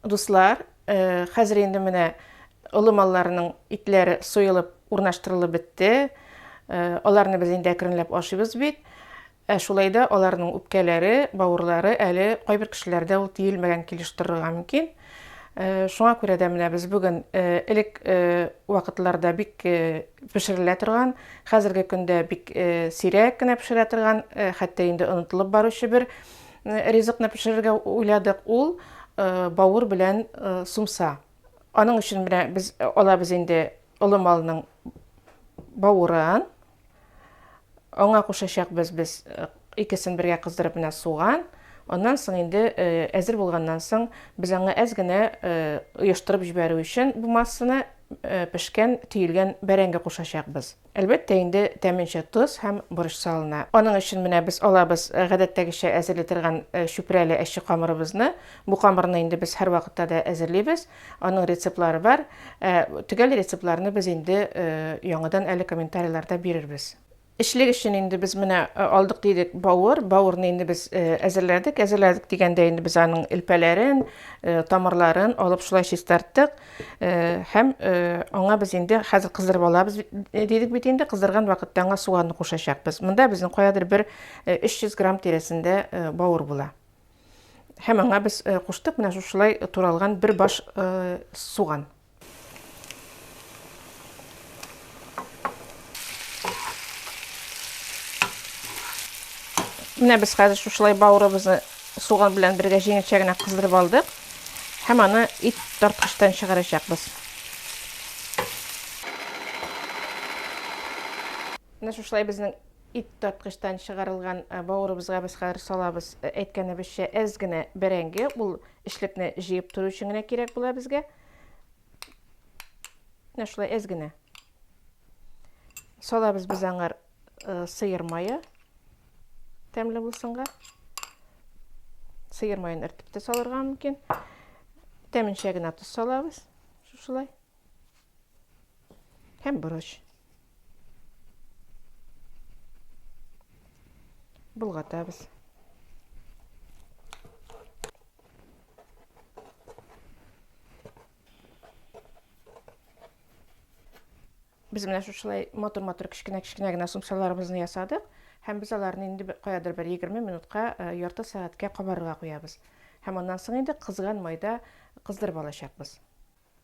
Дуслар, хәзер инде менә олы малларның итләре суелып, урнаштырылып бетте. Аларны без инде әкренләп ашыйбыз бит. Ә шулай да аларның үпкәләре, бавырлары әле кайбер кешеләрдә ул тиелмәгән килеш торырга мөмкин. Э, шуңа күрә дә менә без бүген э, элек э, вакытларда бик пешерелә торган хәзерге көндә бик сирәк кенә пешерә торган хәтта инде онытылып баручы бер Ризыкны пешерергә уйладык ул э, бавыр белән э, сумса. Аның өчен менә без э, алабыз инде олы малның бавырын. Аңа кушачакбыз без икесен бергә кыздырып менә суган. Аннан соң инде әзер булганнан соң без аңа әз генә оештырып җибәрү өчен бу массаны пешкән, төелгән бәрәңге кушачакбыз. Әлбәттә инде, тәменчә тоз һәм борыч салына. Аның өчен менә без алабыз гадәттәгечә әзерли торган чүпрәле әче камырыбызны. Бу камырны инде без һәрвакытта да әзерлибез. Аның рецептлары бар. Төгәл рецептларны без инде яңадан әле комментарийларда бирербез. Эчлек өчен инде без менә алдык дидек бавыр. Бавырны инде без әзерләдек. Әзерләдек дигәндә инде без аның элпәләрен, тамырларын алып шулай чистарттык. Һәм аңа без инде хәзер кыздырып алабыз дидек бит инде, кыздырган вакытта аңа суганны кушачакбыз. Монда безнең каядыр бер 300 грамм тирәсендә бауыр була. Һәм аңа без куштык менә шушылай туралган бер баш суган. Менә без хәзер шушылай бауырыбызны суган белән бергә җиңелчә генә кыздырып алдык. Һәм аны ит тарткычтан чыгарачакбыз. Менә шушылай безнең ит тарткычтан чыгарылган э, бауырыбызга без хәзер салабыз. Э, әйткәнебезчә, әз генә бәрәңге, ул эшлекне җыеп тору өчен генә кирәк була безгә. Менә шулай әз генә. Салабыз без аңар э, сыер мае. Тәмле булсынга. Сыер маен әртеп тә салырга мөмкин. Тәменчә генә тоз салабыз. Шушылай. Һәм борыч. Болгатабыз. Без менә шушылай матур-матур кечкенә-кечкенә генә сумсаларыбызны ясадык һәм без аларны инде каядыр бер 20 минутка, э, ярты сәгатькә кабарырга куябыз. Һәм аннан соң инде кызган майда кыздырып алачакбыз.